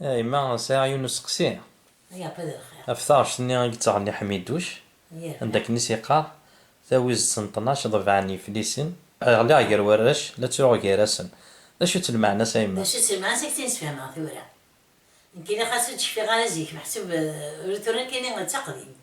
A yemma, sɛiɣ yiwen n usteqsi ɣef taɣect-nni i yettɣenni Ḥmiduc, anda akken i s-yeqqar, Tawizt n ṭnac ḍebɛen yiflisen. Ɣliɣ gar warrac, la ttruɣ gar-asen. D acu-tt lmeɛna-s a yemma? D acu-tt lmeɛna-s ad k-tt-in-sfehmeɣ tura. Nekkini xas ur d-cfiɣ ara zik, meḥsub tura nekkini d taqdimt.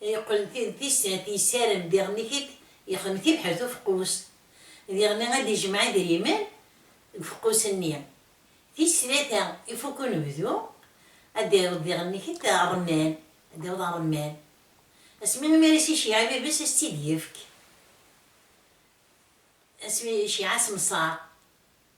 Yeqqel d tis at yisaren diɣen i t-id yexdem tibḥirt ufeqqus diɣen ad ijmeɛ idrimen deg ufeqqus nni. Tis tlata ifuk unebdu ad d-ireḍ diɣen i t-id rremman, ad d-ireḍ rremman. Asmi imi ara as-iceyyeɛ ibibes ad as-tt-id yefk, asmi iceyyeɛ asemṣar.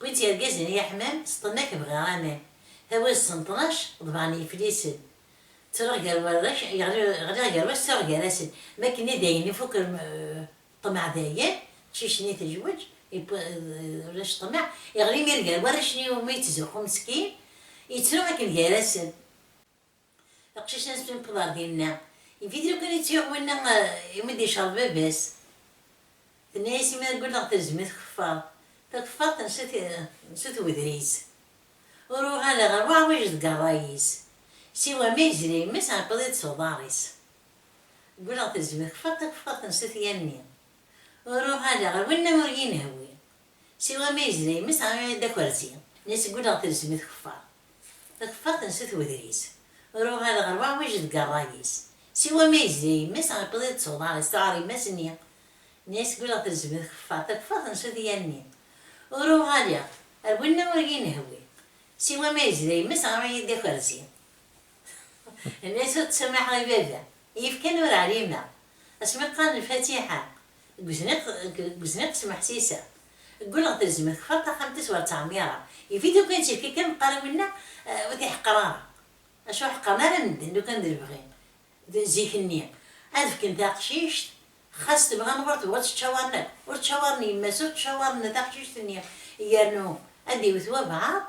Wid yergazen i aḥmam s ṭṭmak bɣiɣ aman Tawiḍ s ṭnac ḍebɛen yiflisen Ttreɣ gar warrac ɣliɣ gar wass ttreɣ gar-asen M akken i dayen ifuk ṭṭmeɛ dayen Ttcicni tejweǧ ulac ṭṭmeɛ Iɣli mir gar warrac-nni Umi yettzuxxu meskin yettru akken gar-asen Aqcic ansi newweḍ ɣer dinna, yif-it lukan yettyaɣ winna imi d-icerḍ baba-s. Tenna-yas, imi ara gulleɣ telzem-iyi tkeffart. Takeffart n sut n wedris. Ur uɣaleɣ ɣer uɛwij deg rray-is. Siwa ma yezla yemma-s ɛebbaḍ-it s uḍar-is. Gulleɣ telzem-iyi tkeffart, takeffart n sut yanni. Ur uɣaleɣ ɣer winna ur yi-nehwi. Siwa ma yezla yemma-s teɣra-yi-d akerzi, nni seg ul-eɣ telzem i tkeffart. Takeffart n sut wedris. Ur uɣaleɣ ar waɛwij deg rray-is. Siwa ma yezla yemma-s iqiḍ-it s uḍar-is, tuɛer yemma-s nni, nni seg ul-eɣ telzem i tkeffart. Takeffart n sut i yanni. Ur uɣaleɣ ar winna ur yi-nehwi. Siwa ma yezla yemma-s teɣra-yi-d akerzi. Nni-as ur ttsumaḥeɣ i baba, i yefkan ur ɛlimeɣ. Asmi qqaren lfatiḥa, Deg uzniq s Meḥsisa. Ggulleɣ telzem-it txaḍ taxxamt-is ur ttɛemmireɣ. Yif-it lukan ccirk-ik am qqaren winna ur t-iḥeqqer ara. Acu ur ḥeqqren ara medden lukan d lebɣi d zik-nni ad fken taqcict xas tebɣa neɣ ur tebɣi ttcawaren akk. Ur ttcawaren yemma-s ur ttcawaren taqcict-nni yernu ad d-iwet wabɛaḍ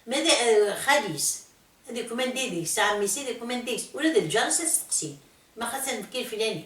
ma d xali-s ad ikmen deg-s, ɛemmi-s ad ikmen deg-s ula d lǧar-is ad steqsin ma xas ad d-nekk leflani